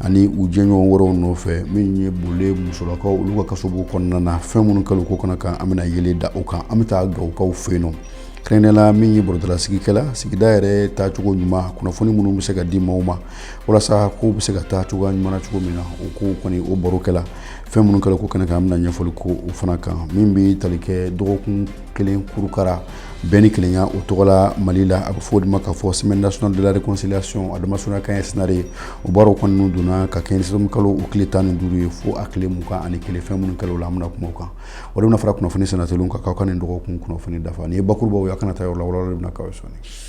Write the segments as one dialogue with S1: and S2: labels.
S1: ani u jɛɲɔgɔn wɛrɛw nɔfɛ min ye Bole musolakaw olu ka kasobon kɔnɔna na fɛn minnu kɛla o ko kɛnɛ kan an bɛna yelen da o kan an bɛ taa gawukaw fɛ yen nɔ kɛrɛnkɛrɛnnenya la min ye baroda lasigi kɛla sigida yɛrɛ taacogo ɲuman kunnafoni minnu bɛ se ka di maaw ma walasa kow bɛ se ka taa cogoya ɲuman na cogo min na o ko kɔni o baro kɛla fɛn minnu kɛla o ko kɛnɛ kan an bɛna ɲɛfɔli kɛ o fana kan min bɛ tali kɛ dɔgɔkun kelen kurukara bɛn ni kelenya o tɔgɔ la mali la a bɛ fɔ o de ma k'a fɔ semaine nationale de la réconciliation a damasurunya kan ye SENARE ye o baaraw kɔni n'u dɔnna ka kɛ nin kalo o tile tan ni duuru ye fo a tile mugan ani kelen fɛn minnu kɛla o la an bɛna kuma o kan o de bɛna fara kunnafoni sɛnɛtɛliw kan k'aw ka nin dɔgɔkun kunnafoni dafa nin ye bakurubaw ye aw kana taa yɔrɔ la walawalali bɛna k'aw ye sɔɔni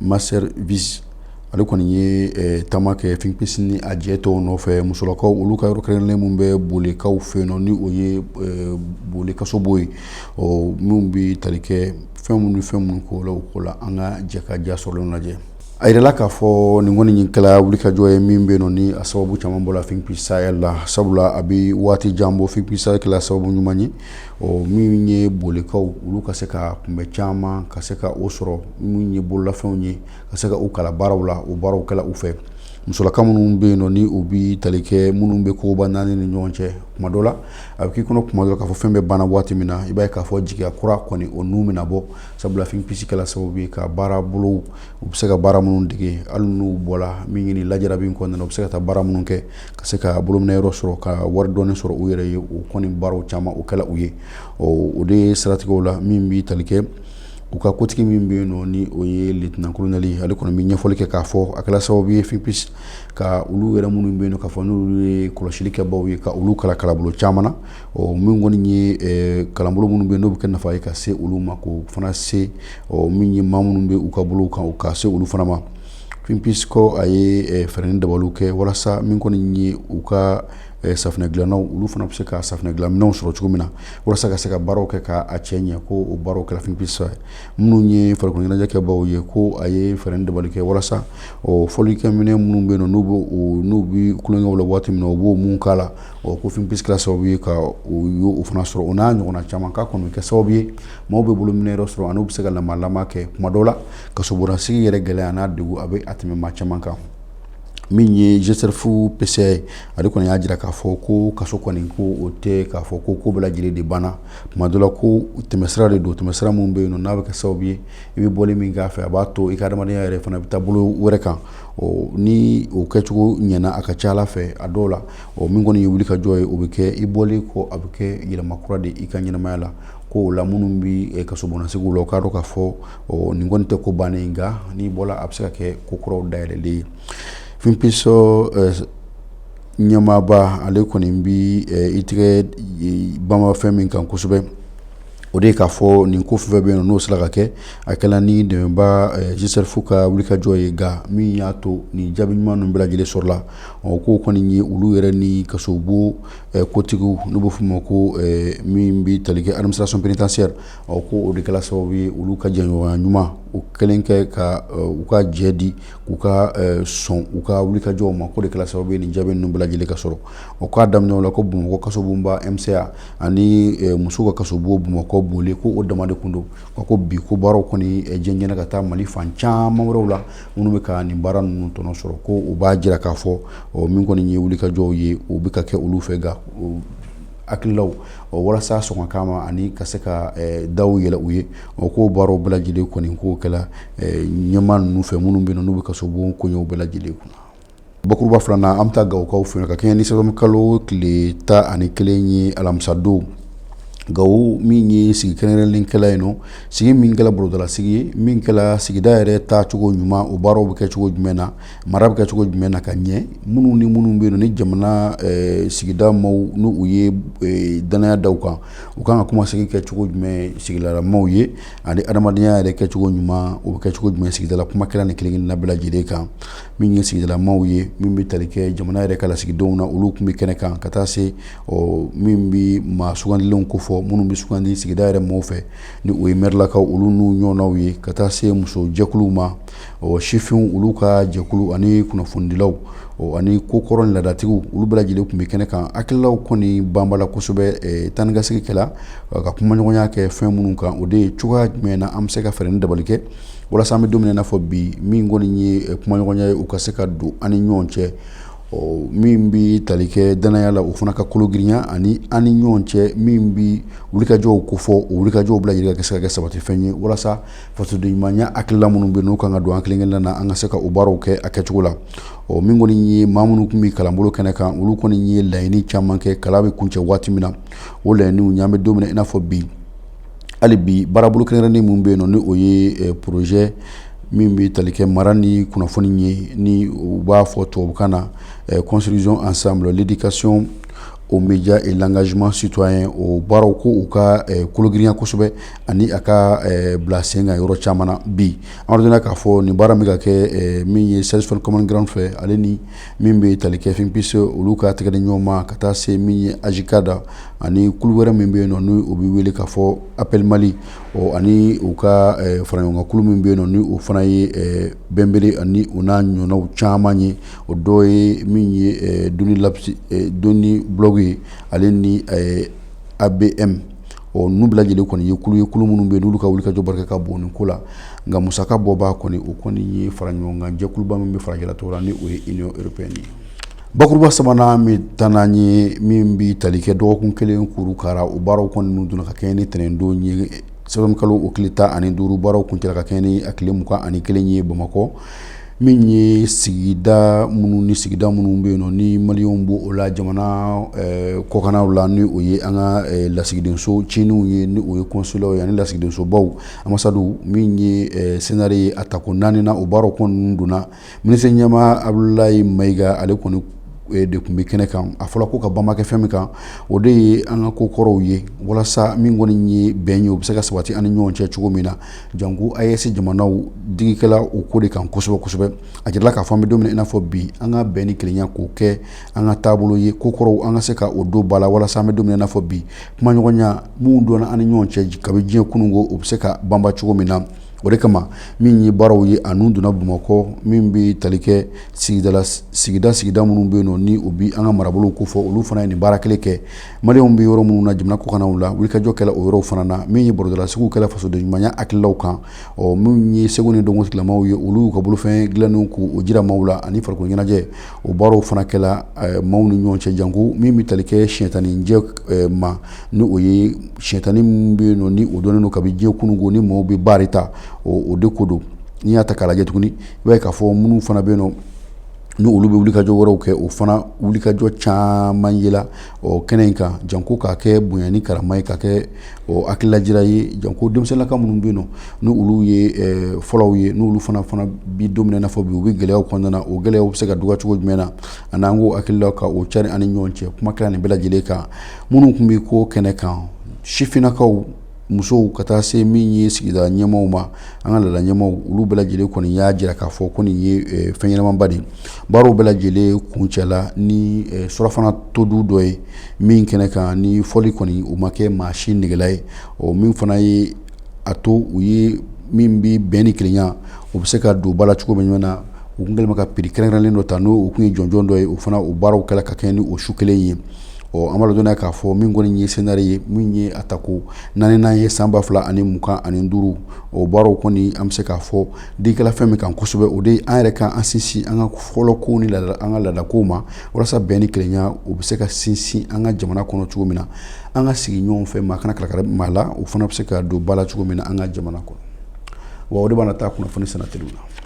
S1: Manservisi ale kɔni ye taama kɛ Think Peace ni a jɛ tɔw nɔfɛ musolakaw olu ka yɔrɔ kɛrɛnkɛrɛnnen minnu bɛ Bolekaw fɛ yen ni o ye Bole kasobon ye ɔ minnu bɛ tali kɛ fɛn minnu fɛn minnu kɛla o ko la an ka jɛ ka ja sɔrɔlen lajɛ a yirala k'a fɔ nin kɔni kɛra wulikajɔ ye min bɛ yen ni a sababu caman bɔla Think Peace Sahel la sabula a bɛ waati jan bɔ Think Peace Sahel kɛla sababu ɲuman ye ɔ min ye Bolekaw olu ka se ka kun bɛ caman ka se ka o sɔrɔ minnu ye bololafɛnw ye ka se ka u kalan baaraw la o baaraw kɛla u fɛ musolakaw minnu bɛ yen nɔ ni u bɛ tali kɛ minnu bɛ koba naani ni ɲɔgɔn cɛ kuma dɔ la a bɛ k'i kɔnɔ kuma dɔ la k'a fɔ fɛn bɛ banna waati min na i b'a ye k'a fɔ jigiya kura kɔni o n'u bɛna bɔ sabula Think Peace kɛla sababu ye ka baara bolo u bɛ se ka baara minnu dege hali n'u bɔra min ɲini lajara min kɔnɔna na u bɛ se ka taa baara minnu kɛ ka se ka bolominɛ yɔrɔ sɔrɔ ka wari dɔɔni sɔrɔ u yɛrɛ ye o kɔni baaraw caman o kɛla u ye ɔ o de ye siratigɛw la min bɛ tali kɛ u ka kotigi min bɛ yen nɔ ni o ye lieutenant-colonel ale kɔni bɛ ɲɛfɔli kɛ k'a fɔ a kɛra sababu ye Think Peace ka olu yɛrɛ minnu bɛ yen k'a fɔ n'olu ye kɔlɔsili kɛbaaw ye ka olu kalan kalanbolo caman na ɔ min kɔni ye kalanbolo minnu bɛ yen n'o bɛ kɛ nafa ye ka se olu ma k'o fana se ɔ min ye maa minnu bɛ u ka bolo kan ka se olu fana ma Think Peace a ye fɛɛrɛ ni dabaliw kɛ walasa min kɔni ye u ka safunɛ dilannaw olu fana bɛ se ka safunɛ dilanminɛnw sɔrɔ cogo min na walasa ka se ka baaraw kɛ k'a cɛ ɲɛ ko o baaraw kɛra Finpi sɔrɔ minnu ye farikolo ɲɛnajɛkɛbaaw ye ko a ye fɛɛrɛ ni dabali kɛ walasa ɔ fɔlikɛminɛn minnu bɛ yen n'u bɛ kukɛ la waati min na u b'o minnu k'a la o ko Finpi kɛra sababu ye ka o fana sɔrɔ o n'a ɲɔgɔn caman k'a kɔni kɛ sababu ye maaw bɛ bolominɛyɔrɔ sɔrɔ n'u bɛ se ka lamɔ kɛ tuma dɔw la kasobon na sigi yɛrɛ gɛlɛya n'a degun a bɛ a tɛmɛ maa caman kan min ye GCERF PCA ye ale kɔni y'a jira k'a fɔ ko kaso kɔni ko o tɛ k'a fɔ ko ko bɛɛ lajɛlen de banna tuma dɔ la ko tɛmɛsira de don tɛmɛsira min bɛ yen n'a bɛ kɛ sababu ye i bɛ bɔ min k'a fɛ a b'a to i ka adamadenya yɛrɛ fana bɛ taa bolo wɛrɛ kan ni o kɛcogo ɲɛna a ka ca ala fɛ a dɔw la o min kɔni ye wulikajɔ ye o bɛ kɛ i bɔlen kɔ a bɛ kɛ yɛlɛma kura de i ka ɲɛnamaya la ko o la minnu bɛ kaso sigi la o k'a dɔn k'a fɔ ɔ nin kɔni tɛ ko bannen ye nka n'i bɔra a bɛ se ka kɛ ko kuraw dayɛlɛlen ye Finpi ɲɛmaaba ale kɔni bɛ i tigɛ banban fɛn min kan kosɛbɛ o de ye k'a fɔ nin ko fɛn bɛ yen n'o sera ka kɛ a kɛra ni dɛmɛbaa GCERF ka wulikajɔ ye nka min y'a to nin jaabi ɲuman ninnu bɛɛ lajɛlen sɔrɔla ɔ k'o kɔni ye olu yɛrɛ ni kasobo kotigiw n'u bɛ f'o ma ko min bɛ tali kɛ administration pénitentiaire ɔ ko o de kɛra sababu ye olu ka jɛɲɔgɔnya ɲuman o kɛlen kɛ ka eh, u ka jɛ di k'u ka eh, sɔn u ka wulikajɔw ma k'o de kɛra sababu ye nin jaabi ninnu bɛɛ lajɛlen ka sɔrɔ o k'a daminɛ o la ko bamakɔ kasobonba mca ani eh, musow ka kasobo bamakɔ bɔle ko o dama de kun don nka ko bi ko baaraw kɔni jɛnsɛnna ka taa mali fan caman wɛrɛw la minnu bɛ ka nin baara ninnu tɔnɔ sɔrɔ ko o b'a jira k'a fɔ min kɔni ye wulikajɔw ye o bɛ ka kɛ olu fɛ nka Hakililaw o walasa sɔn ka ma ani ka se ka da yɛlɛ u ye o k'o baaraw bɛɛ lajɛlen kɔni k'o kɛra ɲɛmaa ninnu fɛ minnu bɛ yen n'u bɛ kasobon ko bɛɛ lajɛlen kunna bakuruba filanan an bɛ taa gawokaw fɛ ka kɛɲɛ ni sa kalo tile tan ani kelen ye alamisadon gawo min ye sigi kɛnɛ kɛla yen sigi min kɛla bolodala sigi min sigida yɛrɛ taacogo ɲuman o baaraw bɛ kɛ cogo jumɛn na Mara bɛ kɛ cogo jumɛn na ka ɲɛ minnu ni minnu bɛ yen ni jamana sigida maaw n'u ye dannaya da kan u kan ka kuma sigi kɛ cogo jumɛn sigidala maaw ye ani adamadenya yɛrɛ kɛ cogo ɲuman o bɛ kɛ cogo jumɛn sigidala kuma kɛra ni kelen na bɛɛ lajɛlen kan min ye sigidala maaw ye min bɛ tali kɛ jamana yɛrɛ ka lasigidenw na olu tun bɛ kɛnɛ kan ka taa se ɔ min bɛ maa sugandilenw ko fɔ minnu bɛ sugandi sigida yɛrɛ maaw fɛ ni o ye mɛrilakaw olu n'u ɲɔgɔnw ye ka taa se musojɛkuluw ma ɔ sifinw olu ka jɛkulu ani kunnafonidilaw ɔ ani ko kɔrɔ ni laadatigiw olu bɛɛ lajɛlen tun bɛ kɛnɛ kan hakililaw kɔni banbala kosɛbɛ taa ni ka segin kɛla ka kumaɲɔgɔnya kɛ fɛn minnu kan o de ye cogoya jumɛn na an bɛ se ka fɛɛrɛ ni dabali kɛ walasa an bɛ don min na i n'a fɔ bi min kɔni ye kumaɲɔgɔnya ye o ka se ka don an ni ɲɔgɔn cɛ ɔ min bɛ tali kɛ danaya la o fana ka kologirinya ani an ni ɲɔgɔn cɛ min bɛ wulikajɔw ko fɔ o wulikajɔw bɛɛ lajɛlen ka se ka kɛ sabatifɛn ye walasa fasoden ɲumanya hakilila minnu bɛ n'u kan ka don an kelenkelenna na an ka se ka o baaraw kɛ a kɛcogo la ɔ min kɔni ye maa minnu tun bɛ kalanbolo kɛnɛ kan olu kɔni ye laɲini caman kɛ kalan bɛ kuncɛ waati min na o laɲiniw n'an bɛ don min na i n'a fɔ bi hali bi baarabolo kɛrɛnkɛrɛnnen min bɛ yen nɔ ni o ye eh, porozɛ min bɛ tali kɛ mara ni kunnafoni ye ni u b'a fɔ tubabukan na eh, construisons ensemble l'éducation aux médias et l'engagement citoyen o baaraw ko u ka eh, kologirinya kosɛbɛ ani a ka bila sen kan yɔrɔ caman na bi an b'a dɔn k'a fɔ nin baara min ka kɛ min ye Search for Common Ground fɛ ale ni min bɛ tali kɛ Think Peace olu ka tɛgɛ di ɲɔgɔn ma ka taa se min ye AJCAD ani kulu wɛrɛ min bɛ yen nɔ ni o bɛ wele k'a fɔ APPEL Mali ɔ ani u ka faraɲɔgɔnkan kulu min bɛ yen nɔ ni o fana ye Benbere ani u n'a ɲɔgɔnnaw caman ye o dɔ ye min ye Doniblog ye ale ni ABM ɔ n'u bɛɛ lajɛlen kɔni ye kulu ye kulu minnu bɛ yen n'olu ka wulikajɔ barika ka bon nin ko la nka musakabɔbaa kɔni o kɔni ye faraɲɔgɔnkan jɛkuluba min bɛ farajɛla tɔgɔ la ni o ye Union Européenne ye bakuruba sabanan bɛ taa n'an ye min bɛ tali kɛ dɔgɔkun kelen kurukara o baaraw kɔni n'u donna ka kɛ ni ntɛnɛnendon ye sɛtanburu kalo o tile tan ani duuru baaraw kuncɛla ka kɛ ni a tile mugan ani kelen ye bamakɔ min ye sigida minnu ni sigida minnu bɛ yen nɔ ni maliyɛnw b'o la jamana kɔkannaw la ni o ye an ka lasigidenso ciniw ye ni o ye kɔnsulaw ye ani lasigidensobaw anbasadiw min ye SENARE ye a tako naaninan o baaraw kɔni donna minisiri ɲɛmaa Abdulayi Mayiga ale kɔni de tun bɛ kɛnɛ kan a fɔra ko ka banba kɛ fɛn min kan o de ye an ka ko kɔrɔw ye walasa min kɔni ye bɛn ye o bɛ se ka sabati an ni ɲɔgɔn cɛ cogo min na Janko AES jamanaw digi kɛla o ko de kan kosɛbɛ kosɛbɛ a jirala k'a fɔ an bɛ don min na i n'a fɔ bi an ka bɛn ni kelenya k'o kɛ an ka taabolo ye ko kɔrɔw an ka se ka o don ba la walasa an bɛ don min na i n'a fɔ bi kumaɲɔgɔnya minnu donna an ni ɲɔgɔn cɛ kabi diɲɛ kunun ko o bɛ se ka banba cogo min na o de kama min ye baaraw ye n'u donna bamakɔ min bɛ tali kɛ sigida sigida minnu bɛ yen nɔ ni o bɛ an ka marabolow ko fɔ olu fana ye nin baara kelen kɛ Maliw bɛ yɔrɔ minnu na jamana kɔkannaw la wulikajɔ kɛla o yɔrɔ fana na min ye barodalasigiw kɛla fasoden ɲumanya hakililaw kan ɔ minnu ye seko ni dɔnko tigilamaw ye olu ka bolofɛn dilannenw k'o jira maaw la ani farikolo ɲɛnajɛ o baaraw fana kɛla maaw ni ɲɔgɔn cɛ janko min bɛ tali kɛ siyɛnta ɲɛnajɛ ma ni o ye siyɛnta nin min bɛ yen nɔ ni o dɔnnen don kabi diɲɛ kununko ni maaw bɛ baara ta o de ko don n'i y'a ta k'a lajɛ tuguni i b'a ye k'a fɔ minnu fana bɛ yen nɔ N' olu bɛ wulikajɔ wɛrɛw kɛ o fana wulikajɔ caman yela kɛnɛ in kan janko k'a kɛ bonya ni karama ye ka kɛ hakililajira ye janko denmisɛnninlaka minnu bɛ yen nɔ n' olu ye fɔlɔw ye n'olu fana fana bi don min na i n'a fɔ bi u bɛ gɛlɛya kɔnɔna o gɛlɛyaw bɛ se ka dɔgɔya cogo jumɛn na ani n'an ko hakilila ka o cari ani ni ɲɔgɔn cɛ kuma kɛra nin bɛɛ lajɛlen kan minnu tun bɛ ko kɛnɛ kan sifinnakaw musow ka taa se min ye sigida ɲɛmaaw ma an ka laada ɲɛmaaw olu bɛɛ lajɛlen kɔni y'a jira k'a fɔ ko nin ye fɛn ɲɛnamaba de baaraw bɛɛ lajɛlen kuncɛla ni surafana todun dɔ ye min kɛnɛ kan ni fɔli kɔni o ma kɛ maa si negela ye o min fana ye a to u ye min bɛ bɛn ni kelenya o bɛ se ka don ba la cogo min ɲɔgɔn na u tun kɛlen bɛ ka piri kɛrɛnkɛrɛnlen dɔ ta n'o o tun ye jɔnjɔn dɔ ye o fana o baaraw kɛla ka kɛɲɛ ni o su kelen ye ɔ an b'a dɔn k'a fɔ min kɔni ye senare ye min ye a tako naaninan ye san ba fila ani mugan ani duuru o baaraw kɔni an bɛ se k'a fɔ digi kɛla fɛn min kan kosɛbɛ o de an yɛrɛ kan an sinsin an ka fɔlɔ kow ni an ka laadakow ma walasa bɛn ni kelenya o bɛ se ka sinsin an ka jamana kɔnɔ cogo min na an ka sigi ɲɔgɔn fɛ maa kana kalaka maa la o fana bɛ se ka don ba la cogo min na an ka jamana kɔnɔ wa o de b'an taa kunnafoni sennateliw la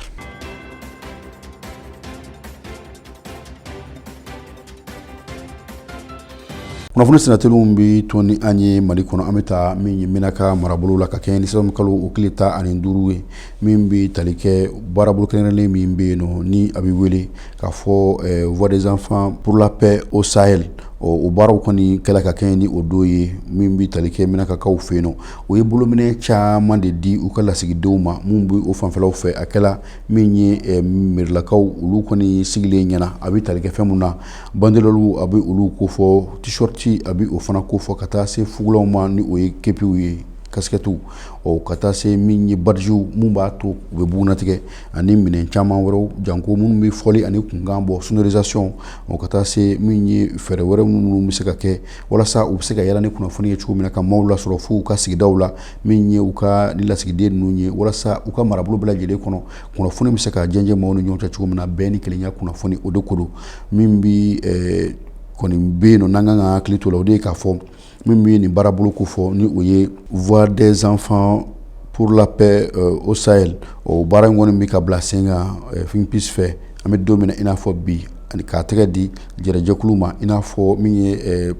S1: kunnafoni sennateliw bɛ to ni an ye mali kɔnɔ an bɛ taa min ye menaka marabolo la ka kɛɲɛ ni sɛtanburu kalo o tile tan ani duuru ye min bɛ tali kɛ baarabolo kɛrɛnkɛrɛnlen min bɛ yen nɔ ni a bɛ wele k'a fɔ Voix des enfants pour la paix au Sahel o baaraw kɔni kɛla ka kɛɲɛ ni o don ye min bɛ tali kɛ menakakaw fɛ yen nɔ o ye bolominɛn caman de di u ka lasigidenw ma minnu bɛ o fanfɛlaw fɛ a kɛla min ye eh, merilakaw olu kɔni sigilen ɲɛna a bɛ tali kɛ fɛn min na banderɔli a bɛ olu ko fɔ t-shirt a bɛ o fana ko fɔ ka taa se fugulaw ma ni o ye kepiw ye kasikɛtiw ɔ ka taa se min ye badiziw min b'a to u bɛ bugunnatigɛ ani minɛn caman wɛrɛw janko minnu bɛ fɔli ani kumakan bɔ sonorisation ɔ ka taa se min ye fɛɛrɛ wɛrɛ minnu bɛ se ka kɛ walasa u bɛ se ka yala ni kunnafoni ye cogo min na ka maaw lasɔrɔ fo u ka sigidaw la min ye u ka nin lasigiden ninnu ye walasa u ka marabolo bɛɛ lajɛlen kɔnɔ kunnafoni bɛ se ka jɛnsɛn maaw ni ɲɔgɔn cɛ cogo min na bɛn ni kelenya kunnafoni o de ko don min bɛ kɔni bɛ yen nɔ n'an kan ka hakili to la o de ye k'a fɔ min bɛ nin baarabolo ko fɔ ni o ye Voix des enfants pour la paix au Sahel o baara in kɔni bɛ ka bila sen kan FINPIS fɛ an bɛ don min na i n'a fɔ bi ani k'a tɛgɛ di Jɛrɛjɛkulu ma i n'a fɔ min ye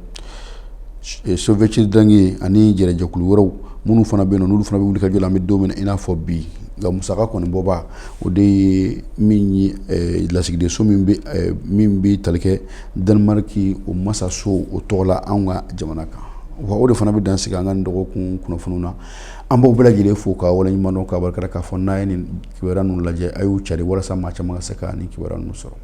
S1: sovc dange ani jɛrɛjɛkulu wɛrɛw minnu fana bɛ yen olu fana bɛ wuli ka jɔ an bɛ don min na i n'a fɔ bi nka musaka kɔni bɔbaa o de ye lasigidenso min bɛ tali kɛ Danemaki o masaso o tɔgɔ la an ka jamana kan wa o de fana bɛ dan sigi an ka dɔgɔkun kunnafoni na an b'aw bɛɛ lajɛlen fo ka waleɲuman dɔn ka barika da k'a fɔ n'a ye nin kibaruya ninnu lajɛ a y'u cari walasa maa caman ka se ka nin kibaruya ninnu sɔrɔ